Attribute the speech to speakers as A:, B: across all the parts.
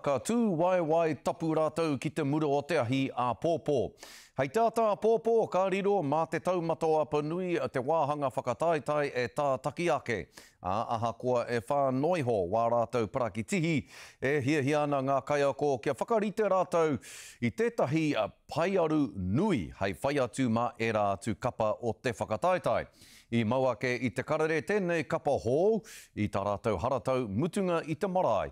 A: Ka tū waewae tapu rātou ki te mura o te ahi āpōpō. Hei te ata āpōpō ka riro mā te taumata o Apanui te wāhanga whakataetae e tātaki ake, ā, ahakoa e whā noa iho wā rātou parakitihi, e hiahia ana ngā kaiako kia whakarite rātou i tētahi paearu nui hei whai atu mā ērā atu kapa o te whakataetae. I mau ake i te karere tēnei kapa hou i tā rātou haratau mutunga i te marae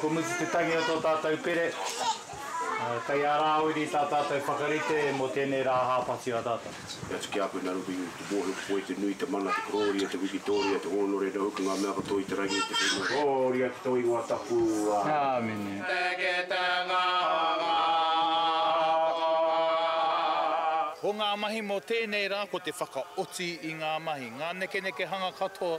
B: Ko Mutu Te Tangi o tō tātou pere. Kei a rāwiri tā tātou whakarite mō tēnei rā hāpati a tātou. He atu ki a koe nā
C: Ruby, te mōhio ki koe, te nui, te mana, te korōria, te wikitōria, te hōnore, nō hoki ngā mea katoa i te rangi, te whenua, te korōria ki tō ingoa tapu. Āmine.
B: Te kitenga o ngā akokoa. Ko ngā mahi mō tēnei rā ko te whakaoti i ngā mahi, ngā nekenekehanga katoa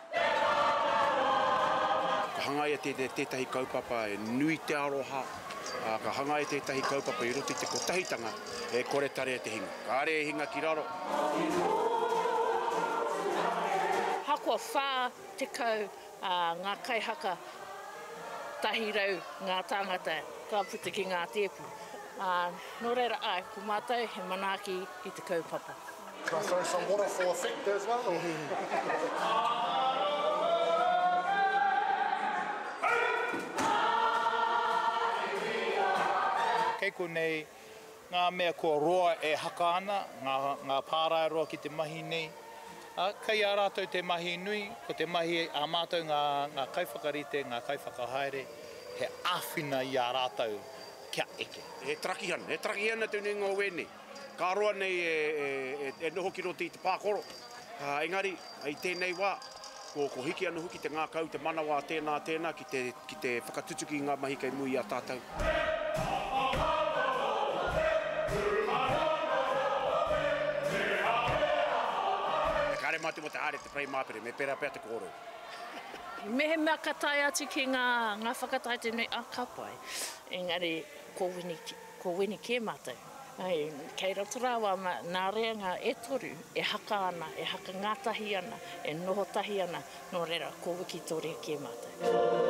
C: Ka hangaia tētahi kaupapa e nui te aroha, ā, ka hangaia tētahi kaupapa i roto i te kotahitanga e kore tarea te hinga. Kāre e hinga ki raro.
D: Ahakoa 40 ngā kaihaka, 100 ngā tāngata ka puta ki ngā tēpu, ā, nō reira, āe, ko mātou he manaaki i te kaupapa. Can
E: I throw some water for effect
B: as well? Kei konei ngā mea kua roa e haka ana, ngā, ngā pāraeroa ki te mahi nei. Ā, kei a rātou te mahi nui, ko te mahi a mātou ngā, ngā kaiwhakarite, ngā kaiwhakahaere, he āwhina i a rātou kia eke. He tarakihan, he
C: tarakihan atu nei ngā wēne. Ka roa nei e noho ki roto i te pākoro, engari i tēnei wā, ko hiki anō hoki te ngākau, te manawa a tēnā, a tēnā ki te whakatutuki i ngā mahi kei muri i a tātou. He kare mā te watahaere te whai māpere, me pērā pea te kōrero.
D: Mehemea ka tae atu ki ngā whakataetae nei, ka pai. Engari ko Wini kē mātou. Kei roto rawa nā reanga e toru e haka ana, e haka ngātahi ana, e noho tahi ana, nō reira, ko Wikitoria kē mātou.